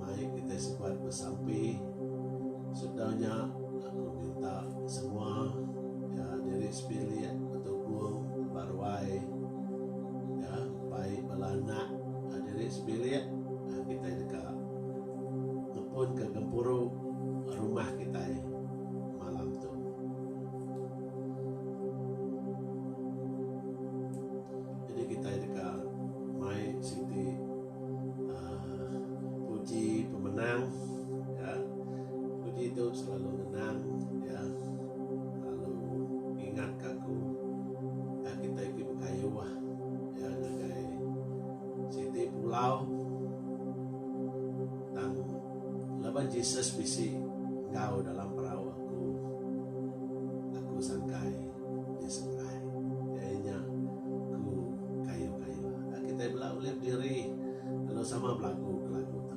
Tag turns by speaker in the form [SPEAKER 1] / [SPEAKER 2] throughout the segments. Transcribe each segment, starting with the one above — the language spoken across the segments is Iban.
[SPEAKER 1] Mari kitai sebat besampi sedar nya aku minta semua ya diri sebilik betubung baruai ya bai bala anak diri sebilik kitai deka ngepunka gempuru rumah kitai malam tu. Jadi kitai deka mai siti. Puji pemenang ya puji tu selalu ngenang ya selalu ngingat ka aku dah kitai ti bekayuh ya ngagai siti pulau tang laban Jesus bisi enggau dalam perau aku aku sangkai. Ti seberai iya nya ku kayu-kayu enda kitai bela ulih diri lalu sama belagu ke lagu tu.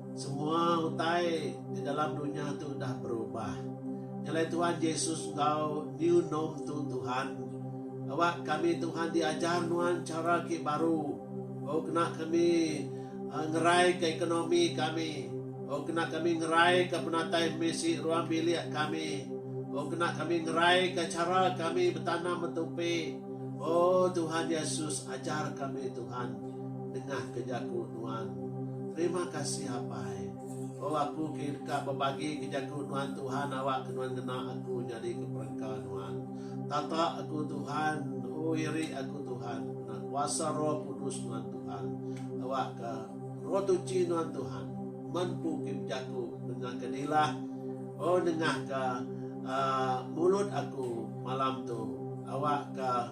[SPEAKER 1] Semua utai di dalam dunya tu udah berubah. Nyelai Tuhan Jesus enggau New Norm tu Tuhan. Awak kami Tuhan diajar nuan chara ke baru oh kena kami ah, ngerai ke ekonomi kami oh kena kami ngerai ke penatai misi ruang bilik kami oh kena kami ngerai ke chara kami betanam betupi. Oh Tuhan Yesus ajar kami Tuhan. Nengah ke jaku nuan. Terima kasih apai. Oh aku ke deka bebagi ke jaku nuan Tuhan awak ke nuan ngena aku nyadi ke perengka nuan. Tata aku Tuhan oh iri aku Tuhan kena kuasa roh kudus nuan Tuhan awak ke roh tuchi nuan Tuhan men ku ke bejaku nengah ke dilah oh nengah ke uh, mulut aku malam tu awak ke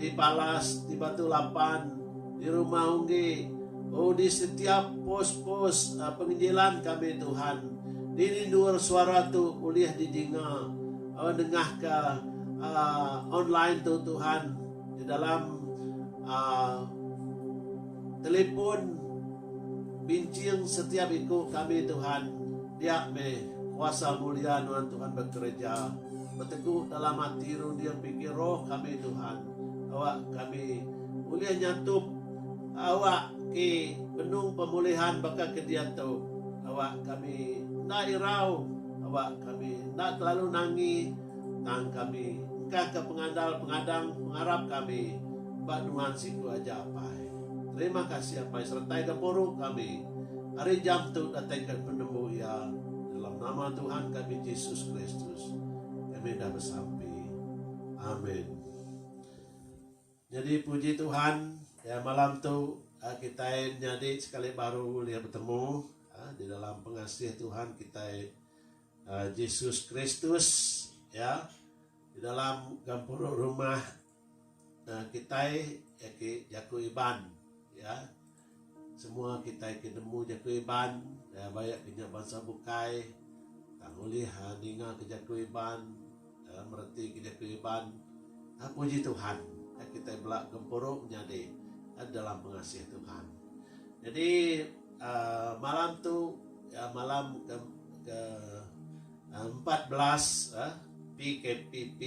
[SPEAKER 1] Di palas, di batu lapan, di rumah unggi, oh di setiap pos-pos penginjilan kami Tuhan, dini endur suara tu ulih di dinga, oh nengah ka online tu Tuhan, di dalam telepon binching setiap iku kami Tuhan, dia meh kuasa mulia nuan Tuhan bekereja. Betegu dalam ati runding bingkih roh kami Tuhan awak kami ulih nyatup awak ke benung pemulihan baka ke diatu awak kami enda irau awak kami enda telalu nangi tang kami engkah ke pengandal pengadang pengarap kami ba Nuhan siku aja apai terima kasih apai seretai gempuru kami ari jam tu datai ke penembu iya dalam nama Tuhan kami Jesus Kristus. Kami enda besampi. Amin. Nyadi puji Tuhan ya malam tu kitai nyadi sekali baru ulih betemu di dalam pengasih Tuhan kitai Jesus Kristus ya di dalam gempuru rumah. Kitai agi jaku Iban iya. Semua kitai ti nemu jaku Iban ba iya kinya bansa bukai tang ulih ninga ke jaku Iban mereti ke jaku Iban. Puji Tuhan kitai bela gempuru menyadi dalam pengasih Tuhan. Jadi aaa malam tu malam ke ke empat belas PKPP.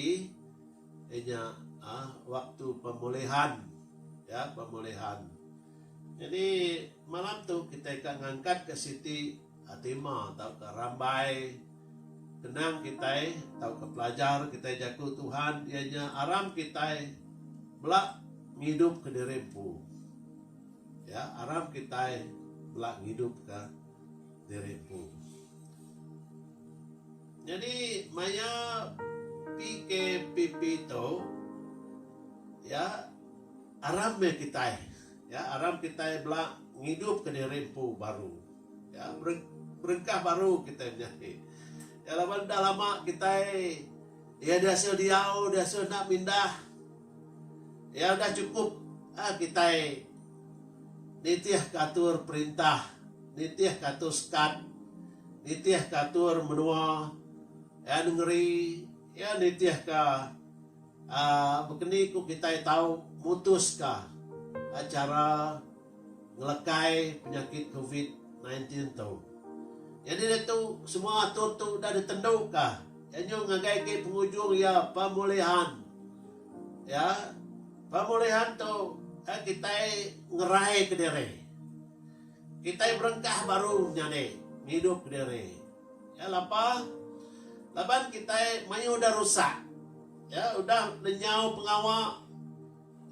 [SPEAKER 1] Inya aah waktu pemulihan ya pemulihan jadi malam tu kitai ka ngangkat ka siti hatima tauka rambai kenang kitai tauka pelajar kitai jaku Tuhan iya nya aram kitai bela ngidup ka diri empu ya aram kitai bela ngidup ka diri empu. Nyadi maya PKPP tu iya aram meh kitai iya aram kitai bela ngidupka diri empu baru iya berengkah baru kitai menyadi iya laban enda lama kitai iya diasa diau diasa enda mindah iya udah chukup kitai. Nitihka atur perintah, nitihka atur sekat, nitihka atur menua iya nengeri iya nitihka aaa bekeni ku kitai tau mutuska chara ngelekai penyakit covid nineteen ti tu. Nyadi diatu semua atur tu udah ditentuka iya nyau ngagai ke pengujung iya pemulihan. Ya, pemulihan tu eh kitai ngerai kediri. Kitai berengkah baru nyadi ngidup kediri. Ya lapa laban kitai mayuh udah rusak. Ya udah nenyau pengawa.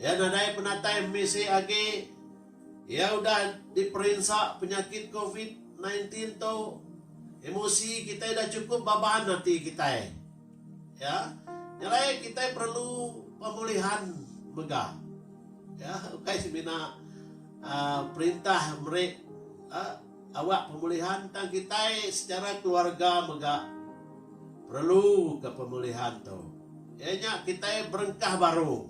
[SPEAKER 1] Ya nadai penatai misi agi. Ya udah diperinsa penyakit covid 19 tu. Emosi kitai udah chukup baban ati kitai. Ya, nyelai kitai perelu pemulihan mega. Ya, ukai semina uh, perintah meri uh, awak pemulihan tang kitai secara keluarga mega perelu ke pemulihan tu. Iya nya kitai berengkah baru.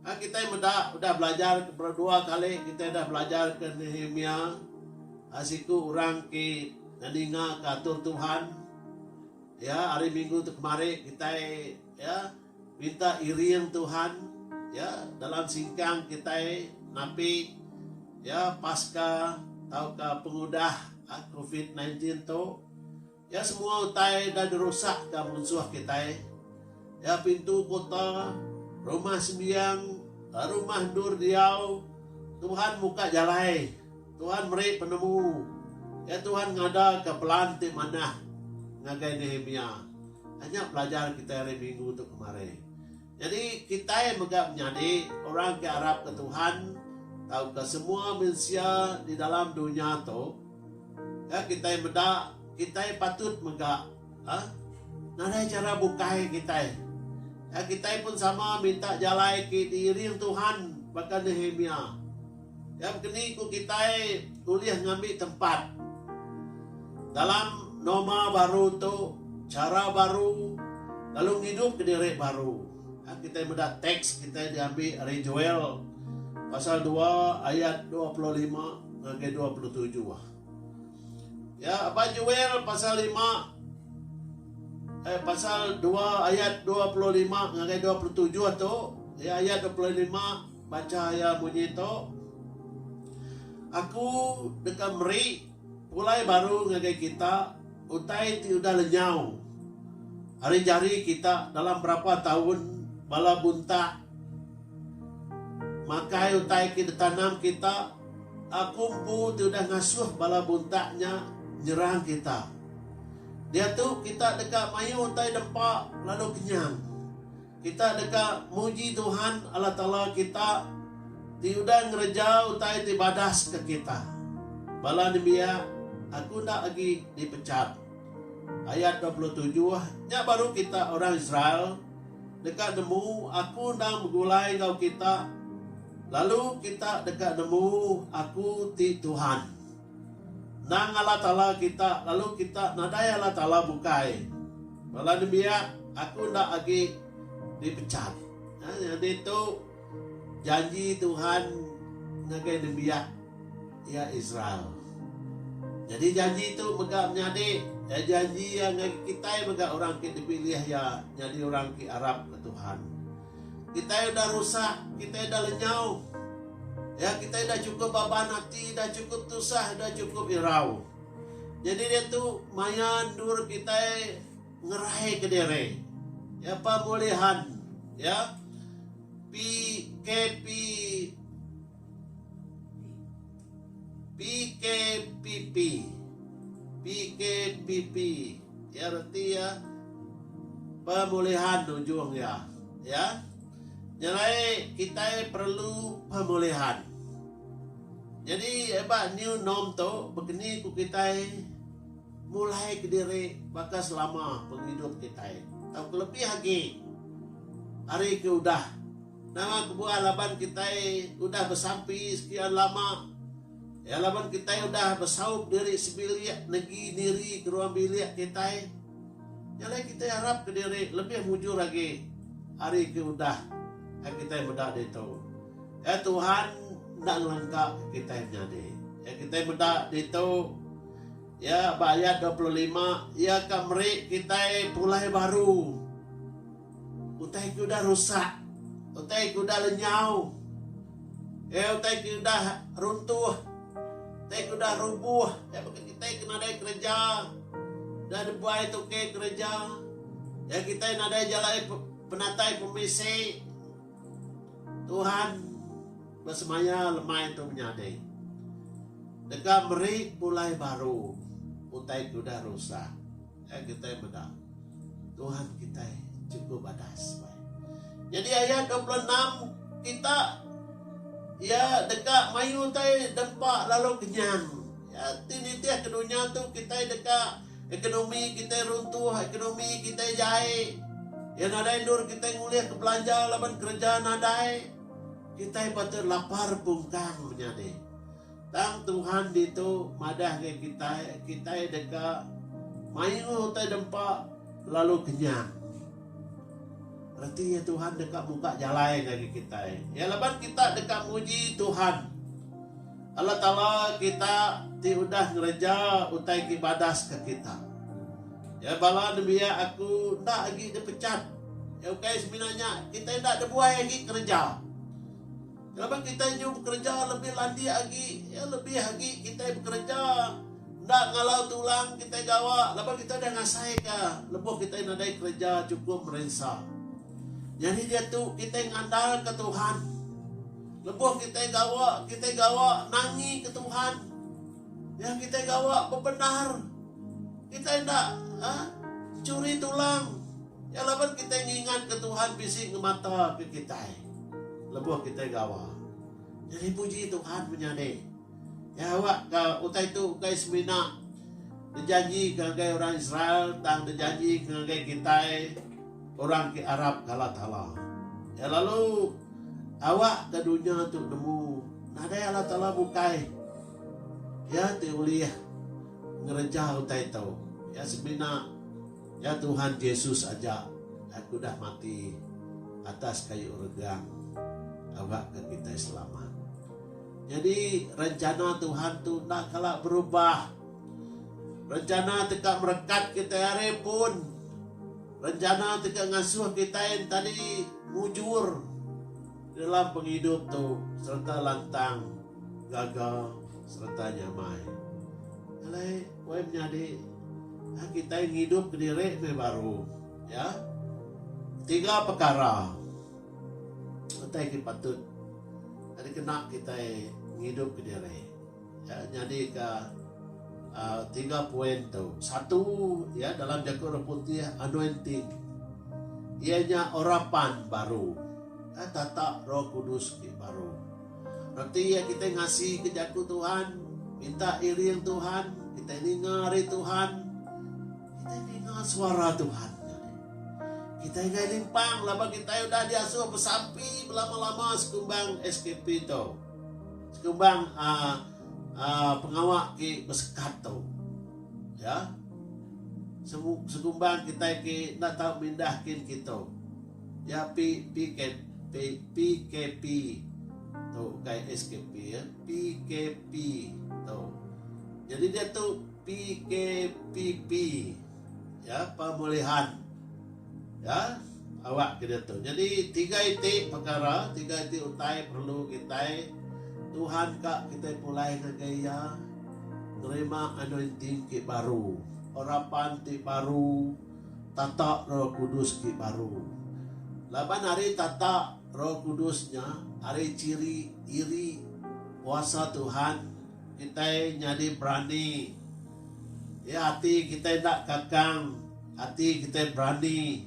[SPEAKER 1] Ha, kitai meda udah belajar ke dua kali kitai udah belajar ke Nehemia ha, siku orang ke ninga ke atur Tuhan Ya, hari minggu tu kemari kitai ya minta iring Tuhan ya dalam singkang kitai napi ya paska tauka pengudah covid sembilan belas tu. Ya semua utai enda dirusakka munsuh kitai. Ya pintu kota, rumah sembiang, rumah endur diau Tuhan muka jalai. Tuhan meri penemu, iya Tuhan ngadaka pelan ti manah ngagai Nehemia. Anya pelajar kitai hari Minggu tu kemari. Nyadi, kitai mega menyadi orang ke arapka Tuhan tauka semua mensia di dalam dunya tu ke kitai meda kitai patut mega nadai chara bukai kitai. Kitai pun sama minta jalai ke diiring Tuhan baka Nehemia. Yang ke ni ku kitai ulih ngambi tempat dalam norma baru tu, chara baru lalu ngidup ke diri baru. Hak kitai meda teks kitai diambi ari Joel pasal dua ayat dua puluh lima ngagai dua puluh tujuh. Ya, ba Joel pasal lima eh pasal dua ayat dua puluh lima ngagai dua puluh tujuh tu, iya ayat dua puluh lima Bacha iya munyi tu, Aku deka meri pulai baru ngagai kita utai ti udah lenyau ari jari kita dalam berapa taun bala buntah makai utai ke ditanam kita. Aku empu ti udah ngasuh bala buntah nya nyerang kita. Diatu kita deka mayuh utai dempa lalu kenyang. Kita deka muji Tuhan Allah Taala kita ti udah ngereja utai ti badas ke kita. Bala nembiak, aku enda agi dipechat. Ayat dua puluh tujuh, Nya baru kita orang Israel deka nemu aku endang begulai enggau kita, lalu kita deka nemu aku ti Tuhan. Endang Allah Taala kita, lalu kita nadai Allah Taala bukai. Bala nembiak, aku enda agi dipecat. Nah, nyadi tu janji Tuhan ngagai nembiak iya Israel. Nyadi janji tu mega menyadi iya janji iya ngagai kitai mega orang ke dipilih iya nyadi orang ke arapka Tuhan. Kitai udah rusak, kitai udah lenyau. Ya, kitai udah chukup baban ati, udah chukup tusah, udah chukup irau. Nyadi diatu maya endur kitai ngeraika diri. Ya, pemulihan. Ya. PKP. PKPP PKPP iya reti iya pemulihan ujung iya iya nyelai kitai perlu pemulihan nyadi ba new norm tu bekeni ku kitai mulai kediri baka selama pengidup kitai tau kelebih agi ari ke udah. Nama kebuah laban kitai udah besampi sekian lama? Iya laban kitai udah besaup diri sebilik negi diri ke ruang bilik kitai. Nya alai kitai arap ke diri lebih mujur agi ari ke udah ai kitai meda ditu. Iya Tuhan enda ngelengka ke kitai menyadi. Iya kitai meda ditu iya ba ayat dua puluh lima iya ka meri kitai pulai baru. Utai ke udah rusak, utai ke udah lenyau, iya utai ke udah runtuh, utai ke udah rubuh iya baka kitai ke nadai kereja, udah dibuai tukey kereja, iya kitai nadai jalai penatai pemisi. Tuhan besemaya lemai tu menyadi deka meri pulai baru utai ke udah rusak. Ai kitai meda Tuhan kitai chukup adas bai. Nyadi ayat 26 kita ya deka mayu utai dempa lalu kenyang. Ya ti nitih ke dunya tu kitai deka ekonomi kitai runtuh, ekonomi kitai jai. Ya nadai endur kitai ngulih ke belanja laban kereja nadai. Kitai patut lapar pungkang menyadi. Tang Tuhan ditu madahka kitai, kitai deka mayuh utai dempa lalu kenyang. Reti iya Tuhan deka muka jalai ngagai kitai. Iya laban kita deka muji Tuhan. Allah Taala kita ti udah ngereja utai ke badas ke kita. Ya bala nembiak aku enda agi dipecat. Ya ukai semina nya kitai enda dibuai agi kereja. Laban kitai nyau bekereja lebih landik agi, iya lebih agi kitai bekereja enda ngalau tulang kitai gawa laban kitai udah ngasaika lebuh kitai nadai kereja chukup merinsa. Nyadi diatu kitai ngandalka Tuhan. Lebuh kitai gawa, kitai gawa nangika Tuhan. Ya kitai gawa bebendar. Kitai enda ha, churi tulang. Nya laban kitai ngingatka Tuhan bisi ngemataka kitai lebuh kitai gawa. Nya dipuji Tuhan menyadi. Iya awakka utai tu ukai semina dijanjika ngagai orang Israel tang dijanjika ngagai kitai orang ke arapka Allah Taala. Iya lalu awakka dunya tu nemu nadai Allah Taala bukai Iya ti ulih ngereja utai tu. Iya semina. Nya Tuhan Jesus aja hak udah mati atas kayu regang awakka kitai selamat. Nyadi rencana Tuhan tu enda kala berubah. Rencana ti ka merekat kitai ari pun rencana ti ka ngasuh kitai entadi mujur dalam pengidup tu sereta lantang gaga sereta nyamai. Alai. Wei menyadi a kitai ngidup kediri meh baru ya tiga pekara utai ti patut dikena kitai ngidup kediri ya nyadi ka tiga point tu satu ya dalam jaku orang putih anointing iya nya urapan baru tata roh kudus ti baru. Reti iya kitai ngasika Jaku Tuhan, minta iring Tuhan, kitai ninga ari Tuhan, kitai ninga suara Tuhan. Nyadi, kitai enggai limpang laban kitai udah diasuh besampi belama-lama sekumbang SKP tu. Sekumbang uh, uh, pengawa ke besekat tu. Ya. Sekumbang kitai ke enda tahu mindahkin kita. Ya pi pkp pkp tu ukai skp ya pkp tu jadi diatu pkpp ya pemulihan ya awak ke diatu jadi tiga iti pekara tiga iti utai perlu kitai Tuhan ka kitai pulai ngagai iya nerima anointing ti baru urapan ti baru. Tata Roh Kudus ti baru. Laban ari tata Roh Kudus nya, ari chiri iri kuasa Tuhan, kitai nyadi berani. Iya ati kitai enda kakang, ati kitai berani.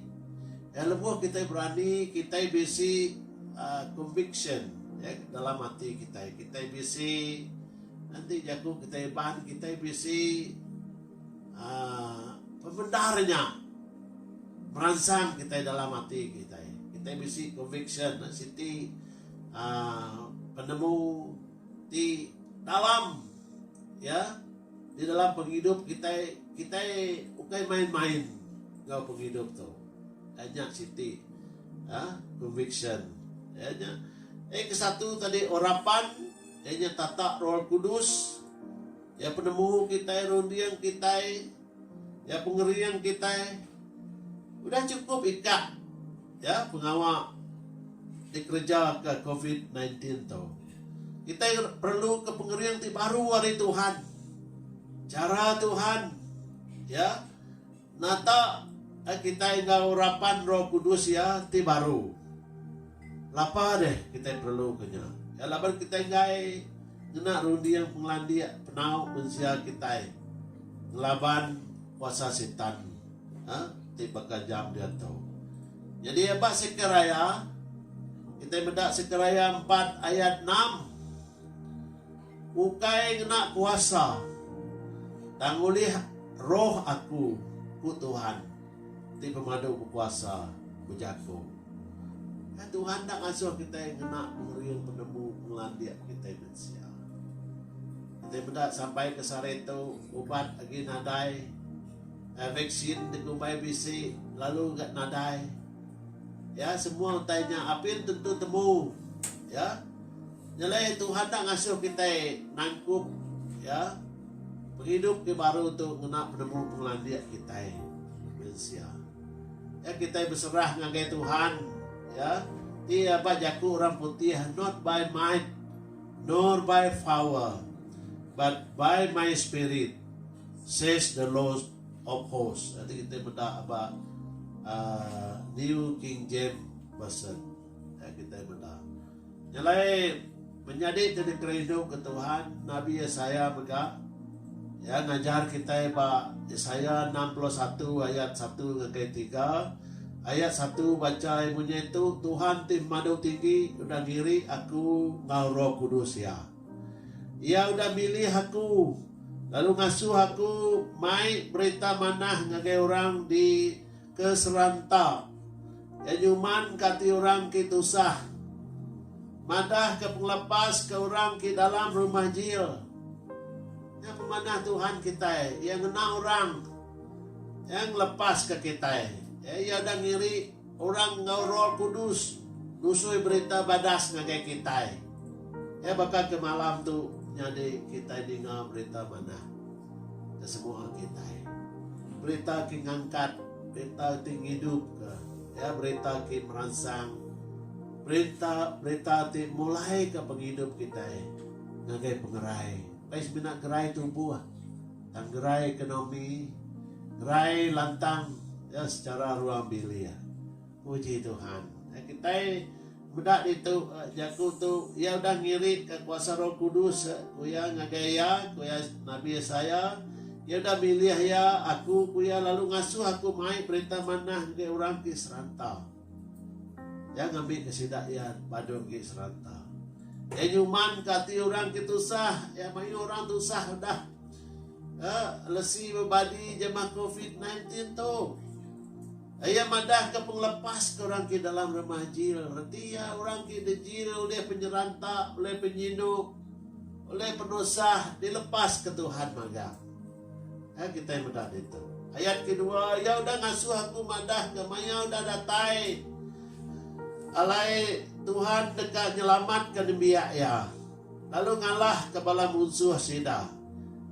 [SPEAKER 1] Iya lebuh kitai berani, kitai bisi conviction dalam ati kitai. Kitai bisi enti jaku kitai iban, kitai bisi. Pemendar nya meransang kitai dalam ati kitai. Kitai bisi conviction siti uhh penemu ti dalam iya di dalam pengidup kitai. Kitai ukai main-main enggau pengidup tu. Nya siti uhh conviction. Iya nya eh ke satu tadi orang pan iya nya tata roh kudus. Iya penemu kitai, runding kitai, iya pengering kitai. Udah chukup ikak iya pengawa dikerejaka covid sembilan belas tu. Kitai perluka pengering ti baru ari Tuhan. Chara Tuhan iya. Nata ka kitai enggau urapan Roh Kudus Iya ti baru? Lapa deh kitai perluka nya? Iya laban kitai enggai ngena runding pengelandik penau mensia kitai ngelaban kuasa Sitan ti bekajam diatu. Nyadi ba Sekariah, kitai meda Sekariah empat ayat enam. Ukai ngena kuasa, tang ulih roh aku, ku Tuhan ti Pemadu Bekuasa ujar ku. Ai Tuhan enda ngasuh kitai ngena pengering penemu pengelandik kitai mensia. Kitai meda sampai ke sehari tu ubat agi nadai, ai vaksin dikumbai bisi lalu ga nadai. Ya semua utai nya apin tentu temu ya. Nyelai Tuhan enda ngasuh kitai nangkup iya. Pengidup ti baru tu ngena penemu pengelandik kitai mensia. Iya kitai beserah ngagai Tuhan iya ti ba jaku orang putih not by might nor by power but by my spirit says the lord of hosts. Enti kitai meda ba uhh New King James Version. Utai kitai meda. Nyelai menyadi ti dikerindu ke Tuhan, Nabi Yesaya mega. Iya ngajar kitai ba Yesaya enam puluh satu ayat satu ngagai tiga. Ayat satu bachai munyi tu, Tuhan ti Pemadu Tinggi udah ngiri aku enggau Roh Kudus Iya. Iya udah milih aku lalu ngasuh aku mai berita manah ngagai orang di Ke seranta, iya nyuman ka ati orang ti tusah. Madah ke pengelepas ke orang ti dalam rumah jil. Nya pemanah Tuhan kitai, iya ngena orang. Iya ngelepas ka kitai. Iya udah ngiri orang enggau roh kudus nusui berita badas ngagai kitai. Iya baka ke malam tu nyadi kitai ninga berita manah. Ke semua kitai. Berita ke ngangkat, berita ti ngidupka, iya berita ke meransang, berita berita ti mulaika pengidup kitai ngagai pengerai kai semina gerai tubuh, tang gerai ekonomi, gerai lantang iya secara ruang bilik. Puji Tuhan. Kitai meda ditu jaku tu Iya udah ngirika kuasa Roh Kudus ku iya ngagai iya, ku iya Nabi Yesaya. Iya udah milih iya, aku, ku iya, lalu ngasuh aku mai berita manah ngagai orang ti seranta. Iya ngambika sida iya padu agi seranta. Iya nyumanka ati orang ke tusah, iya mayuh orang tusah udah eh lesi bebadi jemah covid 19 tu. Iya madahka pengelepas ke orang ke dalam Remah Jil reti iya orang ke dejil ulih penyeranta, ulih penyinu, ulih penusah dilepaska Tuhan magang. Ai kitai meda ditu. Ayat kedua, iya udah ngasuh aku madahka maya udah datai alai Tuhan deka nyelamatka nembiak iya. lalu ngalahka bala munsuh sida.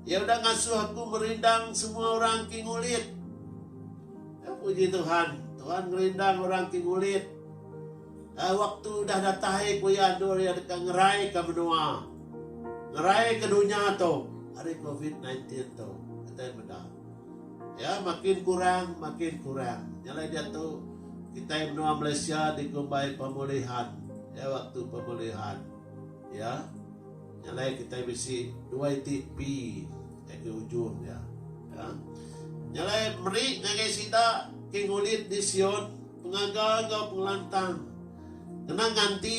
[SPEAKER 1] Iya udah ngasuh aku merindang semua orang ti ngulit. Ya, puji Tuhan, Tuhan ngerindang orang ti ngulit. Uh, waktu udah datai ku iya endur iya deka ngerai ke menua. Ngerai ke dunya tu hari COVID-19 tu. Kata iya meda. Ya, makin kurang, makin kurang. Nyalai dia tu, kita menua Malaysia dikumbai pemulihan. Ya, waktu pemulihan. Iya, nya alai kitai bisi dua iti pi ngagai ujung iya. Iya, nya alai meri ngagai sida ke ngulit di Sion pengaga enggau pengelantang kena nganti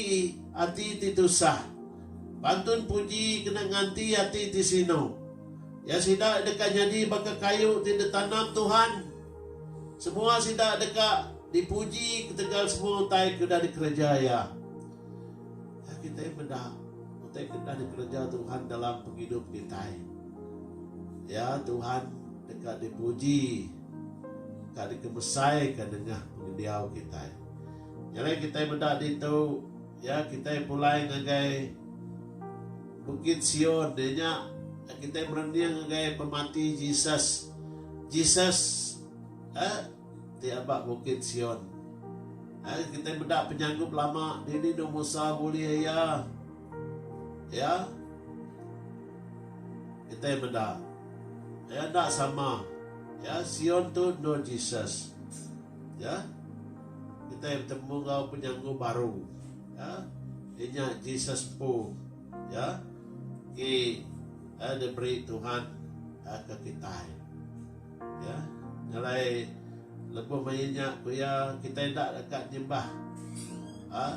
[SPEAKER 1] ati ti tusah, pantun puji kena nganti ati ti sinu. Iya sida deka nyadi baka kayu ti ditanam Tuhan. Semua sida deka dipuji ketegal semua utai ke udah dikereja Iya. Nya kitai meda utai ke enda dikereja Tuhan dalam pengidup kitai. Ya, Tuhan deka dipuji, ka dikemesaika nengah pengendiau kitai. Nya alai kitai meda ditu, ya, kitai pulai ngagai Bukit Sion iya nya kitai merening ngagai pemati Jesus. Jesus eh ti aba Bukit Sion. Ai, kitai meda penyanggup lama dini enda Musa bulih iya. Ya. Kitai meda. Ya, enda sama. Ya, Sion tu endur Jesus. Ya. Kitai betemu enggau penyanggup baru. Ya. Inya Jesus empu. Ya. Ti diberi Tuhan ke kitai. Iya ngalai lebuh mayuh nya ku iya kitai enda deka nyembah uhh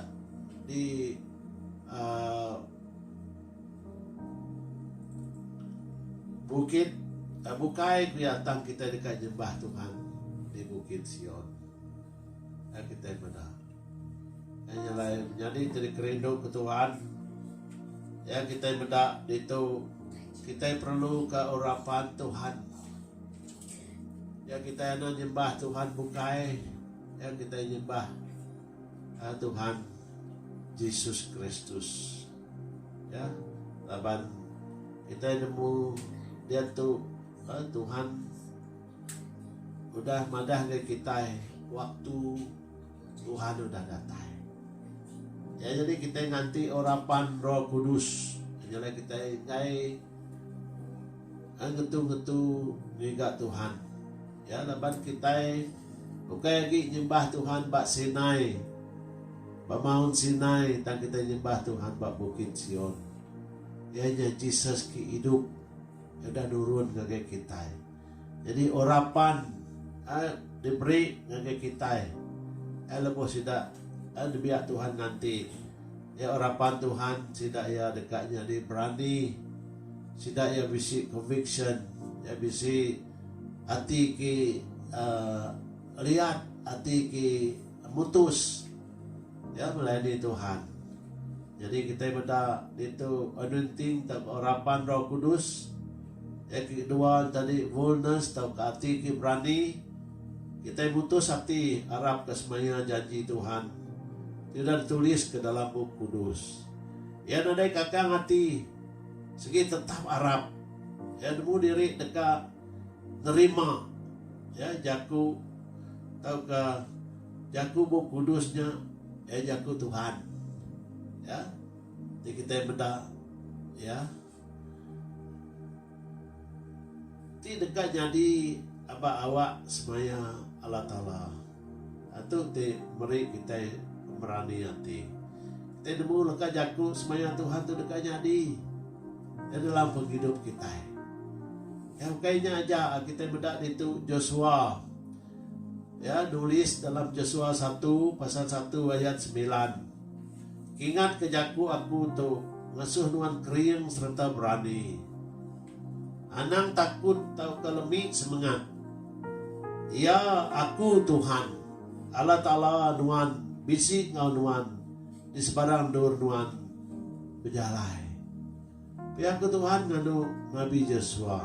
[SPEAKER 1] di uhh bukit bukai ku iya tang kitai deka nyembah Tuhan di bukit Sion. Ai kitai meda. Ai nyelai menyadi ti dikerindu ku Tuhan. Iya kitai meda ditu kitai perluka urapan Tuhan. Iya kitai enda nyembah Tuhan bukai. Iya kitai nyembah aa Tuhan Jesus Kristus. Ya. Laban kitai nemu diatu aa Tuhan udah madah ngan kitai waktu Tuhan udah datai. Iya nyadi kitai nganti urapan Roh Kudus nyelai kitai enggai ngetu-ngetu ngiga Tuhan. Ya laban kitai ukai agi nyembah Tuhan ba Sinai ba Maun Sinai tang kitai nyembah Tuhan ba Bukit Sion. Iya nya Jesus ke idup udah nurun ngagai kitai. Nyadi urapan diberi ngagai kitai lebuh sida dibiak Tuhan nganti iya urapan Tuhan sida iya deka nyadi berani sida iya bisi conviction iya bisi ati ti liat ati ti mutus. Iya belai di Tuhan. Jadi kitai meda ditu anointing tauka urapan Roh Kudus. Iya ke kedua ne tadi boldness tauka ati ke berani. Kitai mutus ati arapka semaya janji Tuhan ti udah dituliska dalam Bup Kudus. Iya nadai kakang ati sigi tetap arap. Iya nemu diri deka nerima iya jaku tauka. Jaku Bup Kudus nya iya Jaku Tuhan. Ya. Ti kitai meda ya. Ti deka nyadi aba awak semaya Allah Taala. Ha tu ti meri kitai pemerani ati. Kitai nemu leka jaku semaya Tuhan tu deka nyadi ya dalam pengidup kitai. Ya ukai nya aja kitai meda ditu Joshua. Iya nulis dalam Josua satu pasal satu ayat semilan, Ingatka jaku Aku tu, ngasuh nuan kering sereta berani. Anang takut tauka lemi semengat. Iya, Aku Tuhan, Allah Taala nuan, bisi enggau nuan di sebarang endur nuan bejalai. Pia ke Tuhan nganu Nabi Jesua?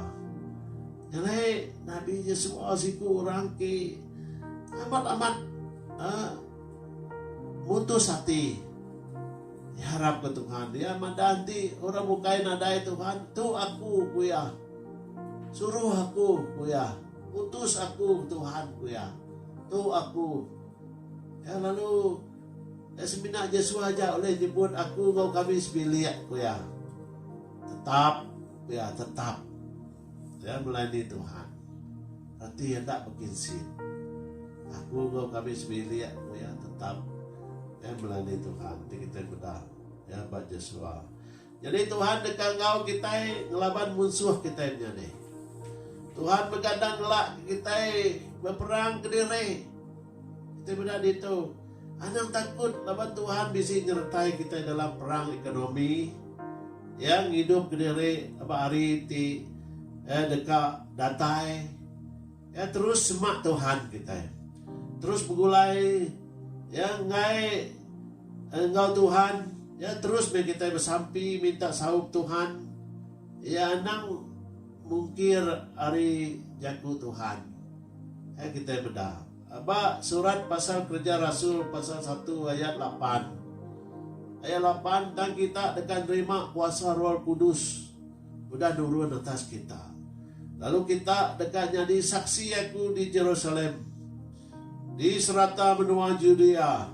[SPEAKER 1] Nyelai Nabi Jesua siku orang ti amat amat mutus ati ngeharap ke Tuhan. Iya madah enti orang bukai nadai Tuhan, tu aku ku iya. Suruh aku ku iya. Utus aku Tuhan ku iya. Tu aku. Iya lalu. Semina Jesua aja ulih nyebut aku enggau kami sebilik, ku iya. Tetap, ku iya, tetap. Iya melayani Tuhan. Reti enda bekinsit. Aku enggau kami sebilik, ku iya, tetap. Iya melayani Tuhan. Ti kitai meda iya ba Jesua. Nyadi Tuhan deka enggau kitai ngelaban munsuh kitai menyadi. Tuhan mega enda ngelak kitai beperang kediri. Kitai meda ditu, anang takut laban Tuhan bisi nyertai kitai dalam perang ekonomi. Iya ngidup kediri ba hari ti deka datai. Iya terus semak Tuhan kitai. Terus begulai iya enggai enggau Tuhan. Iya terus meh kitai besampi minta saup Tuhan. Iya anang mungkir ari jaku Tuhan. Ai kitai meda ba surat pasal Kereja Rasul pasal satu ayat lapan. Ayat lapan, tang kita deka nerima kuasa Roh Kudus udah nurun atas kita. Lalu kita deka nyadi saksi aku di Jerusalem, di serata menua Judea,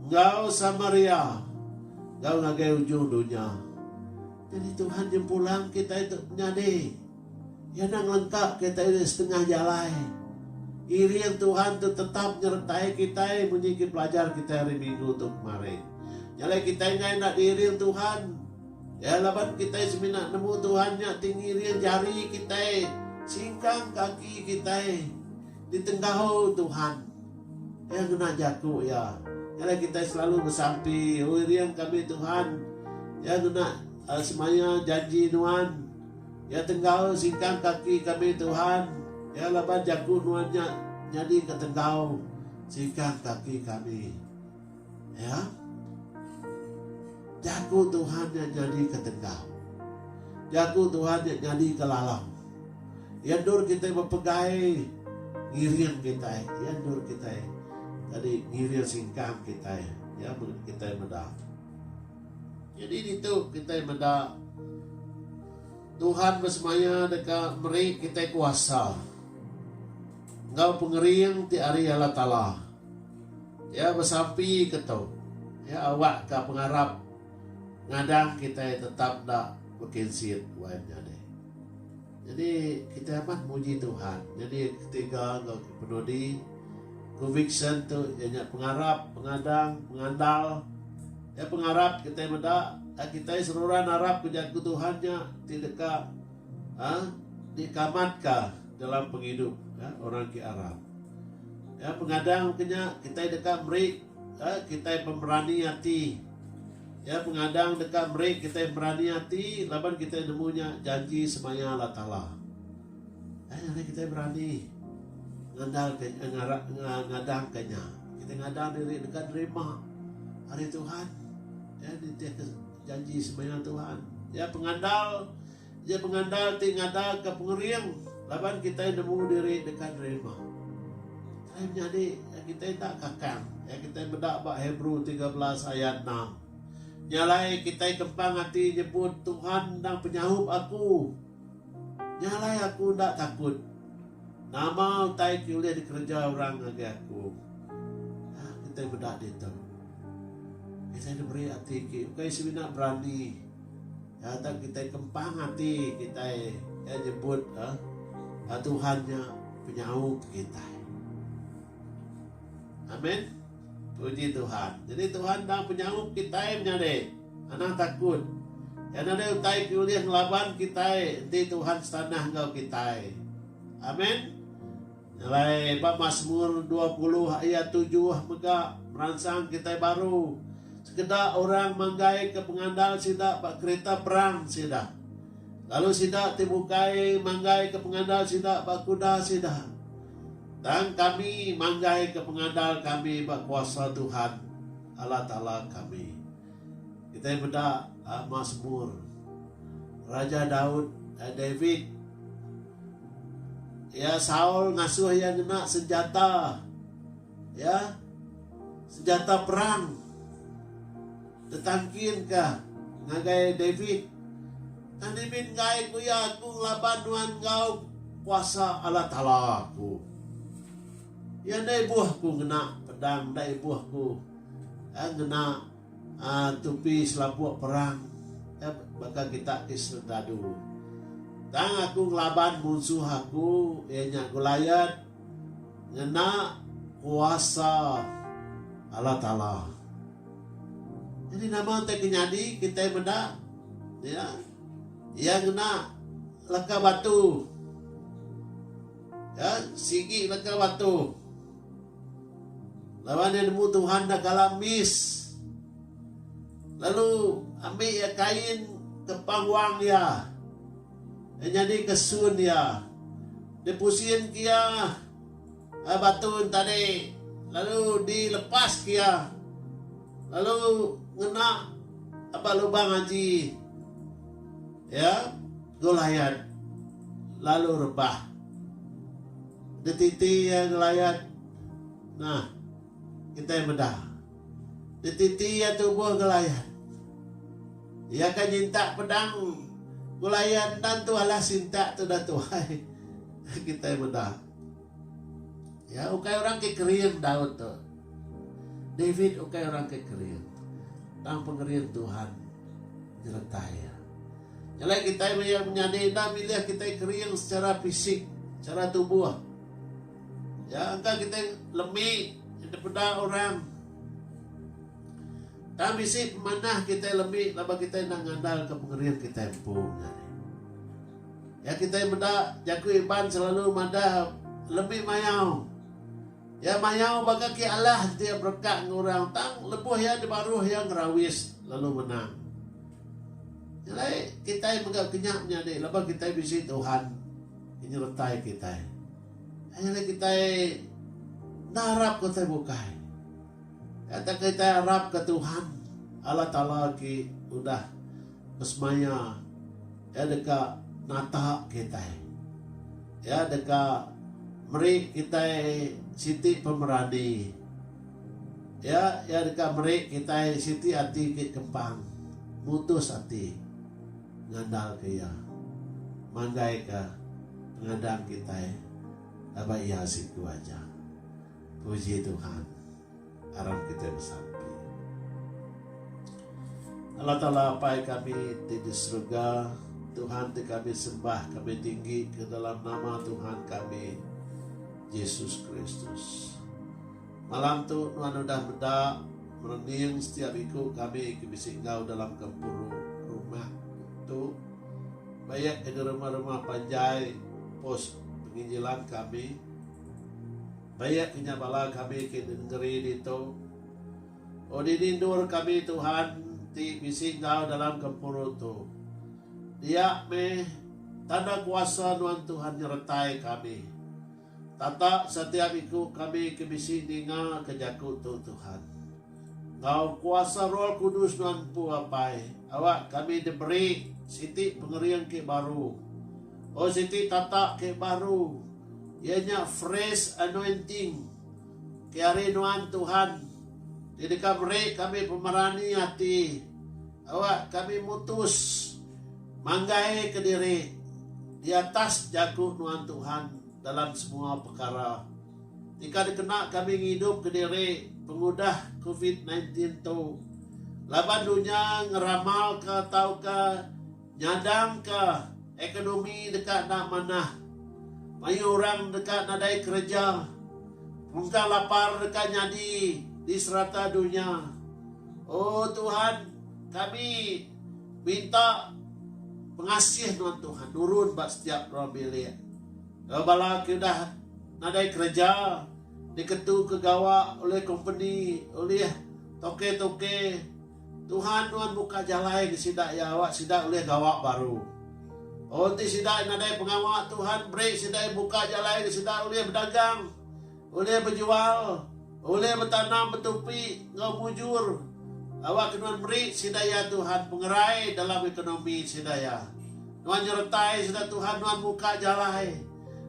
[SPEAKER 1] enggau Samaria, enggau ngagai ujung dunya. Jadi Tuhan nyempulang kitai tu menyadi. Iya enda ngelengka kitai nya setengah jalai. Iring Tuhan tu tetap nyertai kitai munyi ke pelajar kitai hari Minggu tu kemari. Jalai kitai enggai enda diiring Tuhan, iya laban kitai semina nemu Tuhan nya ti ngiring jari kitai, singkang kaki kitai ditenggau Tuhan. Iya ngena jaku iya, Jalai kitai selalu besampi, iring kami Tuhan. Iya ngena semaya janji nuan. Iya tenggau singkang kaki kami Tuhan, iya laban jaku nuan nya nyadi ke tenggau singkang kaki kami. Ya. Jaku Tuhan nya nyadi ke tenggau. Jaku Tuhan nya nyadi ke lalau. Iya endur kita bepegai ngiring kita, iya endur kita. Tadi ngiring singkang kita, ya kita meda. Nyadi ditu kitai meda Tuhan besemaya deka meri kitai kuasa enggau pengering ti ari Allah Taala. Iya besampi ke tu. Iya awakka pengarap ngadang kitai tetap enda bekinsit wai menyadi. Nyadi kitai amat muji Tuhan. Nyadi ketiga enggau kepenudi, conviction, tu iya nya pengarap, pengadang, pengandal. Iya pengarap kitai meda ag kitai seruran arap ke jaku Tuhan nya ti deka ag diakamatka dalam pengidup orang ke arap. Iya pengadang mega nya kitai deka meri Ga kitai bemerani ati. Iya pengadang deka meri kitai berani ati laban kitai nemu nya janji semaya Allah Taala. Ai ngagai kitai berani ngandalka ngadangka nya. Kitai ngadang diri deka nerima ari Tuhan. Iya nitihka janji semaya Tuhan. Iya pengandal. Iya pengandal ti ngadaka pengering laban kitai nemu diri deka nerima. Kitai menyadi iya kitai enda kakang iya kitai meda ba Hebrew tiga belas ayat enam. Nya alai kitai kempang ati nyebut Tuhan endang penyahup aku. Nya alai aku enda takut. Nama utai ke ulih dikereja orang ngagai aku? Nya kitai meda ditu. Kitai diberi ati ke ukai semina berani. Iya tang kitai kempang ati kitai iya nyebut iya Tuhan nya penyau pekitai. Amen. Puji Tuhan. Jadi Tuhan tang penyau pekitai menyadi. Anang takut. Iya nadai utai ke ulih ngelaban kitai enti Tuhan setanah enggau kitai. Amen. Alai ba Masmur dua puluh ayat tujuh mega meransang kitai baru, Sekeda orang manggaika pengandal sida ba kerita perang sida, lalu sida ti bukai manggaika pengandal sida ba kuda sida. Tang kami manggaika pengandal kami ba kuasa Tuhan, Allah Taala kami. Kitai meda Masmur Raja Daud, David, Iya Saul ngasuh iya ngena senjata, iya senjata perang tetangkin ka ngagai David. Tang David enggai ku iya, Aku ngelaba nuan enggau kuasa Allah Taala aku. Iya enda ibuh ku ngena pedang, enda ibuh ku ngena. Tupi selapuk perang baka kita ti sentadu. Tang aku ngelaban munsuh aku iya nya Goliat ngena kuasa Allah Taala. Jadi nama utai ke nyadi kitai meda iya iya ngena leka batu. Sigi leka batu. Laban iya nemu Tuhan enda kala miss. Lalu ambi iya kain ke pangwang iya. Iya nyadi ke sun iya. Dia pusin ke iya eh, batu tadi lalu di lepas ke iya. Lalu ngena aba lubang aji. Ya, Goliat lalu rebah. Dititi iya ngelayat nah kitai meda. Dititi iya tubuh ngelayat. Iya ka nyintak pedang ngelayat enda entu alah sintak tu dah tuai kitai meda. Iya ukai orang ke kering Daud tu. David ukai orang ke kering. Tang pengerin Tuhan nyertai iya. Nya alai kitai maya menyadi enda milih kitai kering sechara fisik, sechara tubuh. Ya, engka kitai lemi dipeda orang. Tang bisi pemanah kitai lemi laban kitai enda ngandalka pengering kitai empu nya alai. Ya kitai meda Jaku Iban selalu madah lemi mayau. Iya mayau ba kaki alah ti iya berekak enggau orang tang lebuh iya dibaruh iya ngerawis lalu menang. Nya alai kitai mega kenya menyadi laban kitai bisi Tuhan ti nyeretai kitai. Nya alai kitai enda arap ke utai bukai. Nya tauka kitai arapka Tuhan Allah Taala ti udah besemaya. Iya deka nata kitai. Iya deka meri kitai siti pemerani. Iya iya deka meri kitai siti ati ke kempang mutus ati ngandalka Iya mandaika pengadang kitai laban Iya siku aja. Puji Tuhan. aram kitai besampi. Allah Taala Apai kami ti di serega, Tuhan ti kami sembah kami tinggi ke dalam nama Tuhan kami Jesus Kristus. Malam tu nuan udah meda merening setiap iku kami ke bisi enggau dalam gempuru rumah tu bayak ke di rumah-rumah panjai pos penginjilan kami. Bayak inya bala kami ke di nengeri ditu. O dini endur kami Tuhan ti bisi enggau dalam gempuru tu. Diak meh, tanda kuasa nuan Tuhan nyeretai kami. Tatak setiap iku kami ke bisi ninga ke jaku tu Tuhan. Enggau kuasa Roh Kudus nuan empu apai, awak kami diberi siti pengering ke baru. Oh siti tatak ke baru, iya nya fresh anointing ke ari nuan Tuhan ti deka meri kami pemerani ati awak kami mutus manggai ke diri di atas jaku nuan Tuhan dalam semua pekara. Tika dikena kami ngidup kediri pengudah covid nine tin tu laban dunya ngeramalka tauka nyadangka ekonomi deka enda manah, mayuh orang deka nadai kereja, pengungkah lapar deka nyadi di serata dunya. O Tuhan, kami minta pengasih nuan Tuhan nurun ba setiap ruang bilik. Enggau bala ke udah nadai kereja diketuka gawa ulih kompeni ulih toke-toke, Tuhan nuan buka jalai ke sida iya awak sida ulih gawa baru. Enti sida nadai pengawa Tuhan beri sida buka jalai ke sida ulih bedagang. Ulih bejual, ulih betanam betupi enggau mujur awakka nuan meri sida iya Tuhan pengerai dalam ekonomi sida iya. Nuan nyeretai sida Tuhan nuan muka jalai.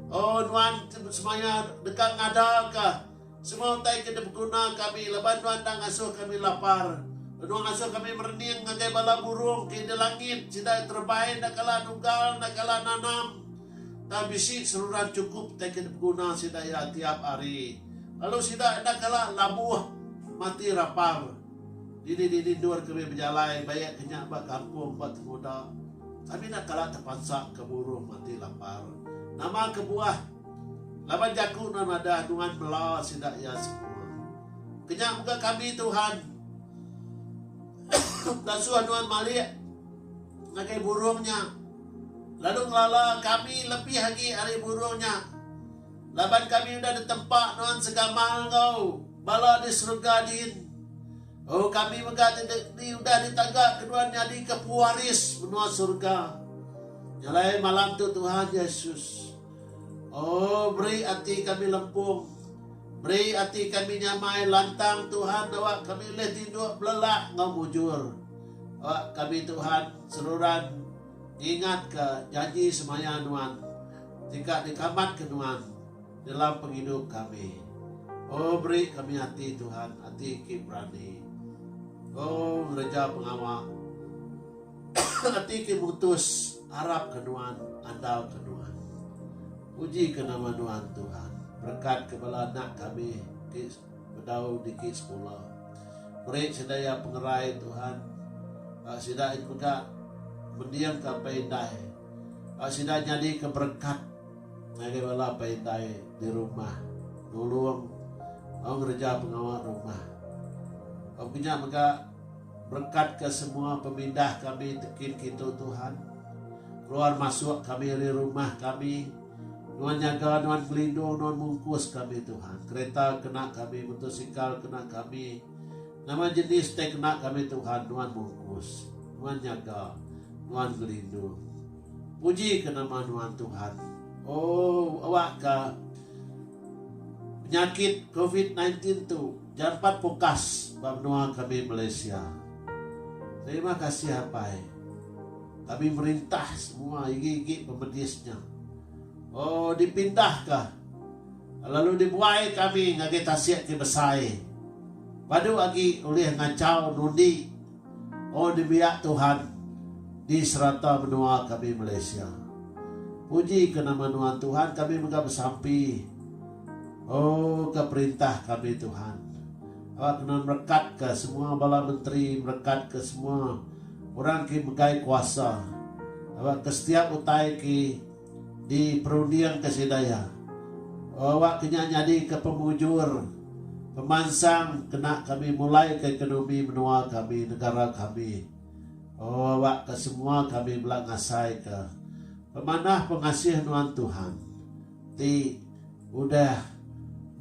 [SPEAKER 1] O nuan ke semaya deka ngadaka semua utai ke dibeguna kami laban nuan enda ngasuh kami lapar. Nuan ngasuh kami merening ngagai bala burung ke di langit, sida terebai enda kala nunggal enda kala nanam. tang bisi seruran chukup tei ke dipeguna sida iya tiap hari, lalu sida enda kala labuh mati rapar. Dini-dini endur ke mih bejalai baik ke nya ba kampung ba Temuda, kami enda kala tepansa ke muruh mati lapar. Nama kebuah, laban jaku nuan madah nuan mela sida iya semua. Ke nya mega kami Tuhan, enda suah nuan malik. Ngagai burung nya, lalu ngelala kami lebih agi ari burung nya, laban kami udah ditempa nuan segamal enggau bala di serega din. O kami mega ti di udah ditagaka nuan nyadika pewaris menua serega. Nya alai malam tu Tuhan Yesus. O meri ati kami lempung, meri ati kami nyamai lantang Tuhan dawak kami ulih tinduk belelak enggau mujur. Ba kami Tuhan seruran ngingatka janji semaya nuan deka nyekamatka nuan dalam pengidup kami. O beri kami ati Tuhan ati ki berani. O ngereja pengawa ati ki mutus arap ke nuan andal ke nuan. Puji ke nama nuan Tuhan berkat ke bala anak kami ki Bedau digi sekula. Meri sida iya pengerai Tuhan. Ba sida it mega mending ka apai indai. Ba sida nyadi ke berekat ngagai bala apai indai di rumah. Nulung au ngereja pengawa rumah. Au ke nya mega berekat ke semua pemindah kami tekin kitu Tuhan. Keluar masuk kami ari rumah kami. Nuan nyaga nuan ngelindung nuan mungkus kami Tuhan kereta kena kami motosikal kena kami nama jenis teh kena kami Tuhan nuan mungkus nuan nyaga nuan ngelindung puji ke nama nuan Tuhan oh awak ke penyakit covid-19 tu jampat pukas ba menua kami Malaysia terima kasih apai Kami merintah semua igi-igi pemedis nya. O dipindah ka lalu dibuai kami ngagai tasik ti besai. Padu agi ulih ngachau nundi. O nembiak Tuhan di serata menua kami Malaysia. Puji ke nama nuan Tuhan kami mega besampi. O ka perintah kami Tuhan. Awak kena merekatka semua bala menteri, merekatka semua orang ke megai kuasa awak ke setiap utai ke diperundingka sida iya. Awak ke nya nyadika pemujur, pemansang kena kami mulaika ekonomi menua kami, negara kami. Awak ke semua kami bela ngasaika pemanah pengasih nuan Tuhan. ti udah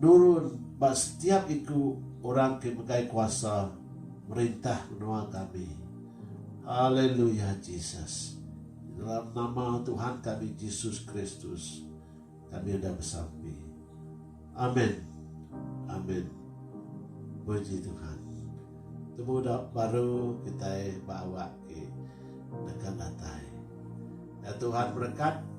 [SPEAKER 1] nurun ba setiap iku orang ke megai kuasa merintah menua kami. Haleluya Jesus. Di dalam nama Tuhan kami Jesus Kristus kami udah besampi. Amen. Amen. Puji Tuhan. Temu da baru kitai ba awak ke neken datai. Ya Tuhan berekat.